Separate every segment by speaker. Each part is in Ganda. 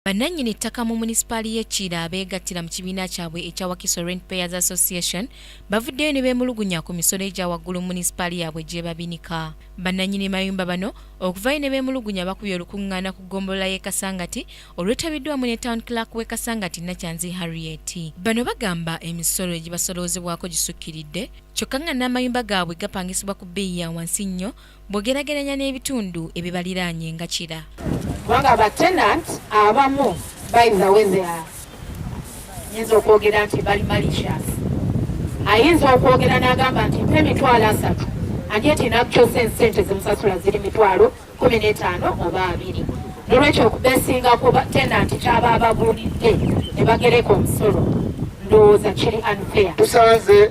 Speaker 1: Bannannyini ttaka mu munisipaali y'e Kiira abeegattira mu kibiina kyabwe ekya Wakiso Rent Payers Association bavuddeyo ne beemulugunya ku misolo egya waggulu mu munisipaali yaabwe gy'ebabinika. Bannannyini mayumba bano okuvaayo ne beemulugunya bakubye olukuŋŋaana ku ggombolola y'e Kasangati olwetabiddwamu ne Town Clerk w'e Kasangati Nakyanzi Harriet. Bano bagamba emisolo egibasoloozebwako gisukkiridde kyokka nga n'amayumba gaabwe gapangisibwa ku bbeeyi ya wansi nnyo bw'ogerageranya n'ebitundu ebibaliraanye nga Kira. Kubanga ba
Speaker 2: tenant abamu by the way they are nyinza okwogera nti bali malicious. Ayinza okwogera n'agamba nti mpa emitwalo asatu and yet in actual sense sente zimusasula ziri mitwalo kumi n'etaano oba abiri. Nolwekyo okubesinga ku tenant kyaba ababuulidde ne bagereka omusolo ndowooza kiri unfair. Tusanze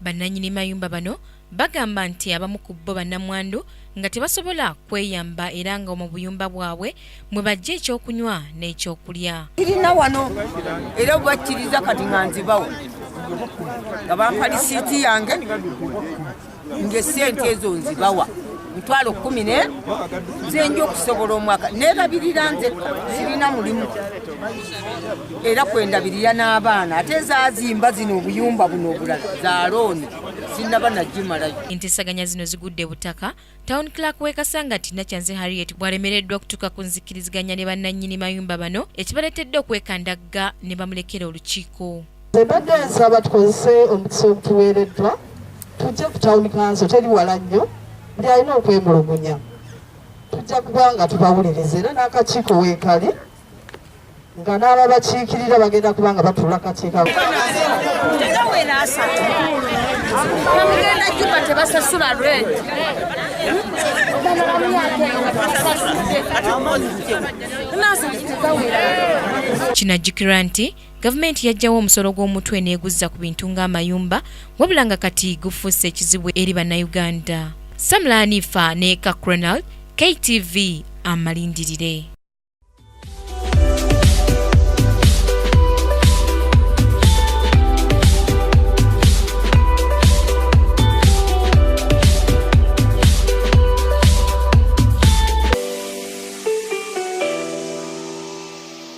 Speaker 3: Bannanyini mayumba
Speaker 1: bano bagamba nti abamu ku bbo bannamwandu nga tebasobola kweyamba era nga mu buyumba bwabwe mwe bajja ekyokunywa n'ekyokulya. Kirina wano
Speaker 4: era bwebakkiriza kati nga nzibawo nga bampa lisiiti yange ng'essente ezo nzibawa. mitwalo kumi ne zenja okusobola omwaka nerabirira nze sirina mulimu era kwendabirira n'abaana ate zazimba zino obuyumba buno obulala za looni sinaba nagimalayo enteesaganya zino
Speaker 1: zigudde butaka town clark wekasanga tina kyanze harriet bwalemereddwa okutuuka ku nzikiriziganya ne bannannyini mayumba bano ekibaleetedde okwekandagga ne bamulekera olukiiko Mbadde
Speaker 5: nsaba tukozese omukisa ogutuweereddwa tujje ku tawuni kanso teri wala nnyo buli alina okwemulugunya tujja kuba nga tubawuliriza era n'akakiiko weekali nga n'ababakiikirira bagenda kuba nga batuula kakiiko
Speaker 1: kinajjukirwa nti Gavumenti yajjawo omusolo gw'omutwe n'eguzza ku bintu ng'amayumba wabula nga kati gufuuse ekizibu eri Bannayuganda. Samla Hanifa ne Kakronal, KTV amalindirire.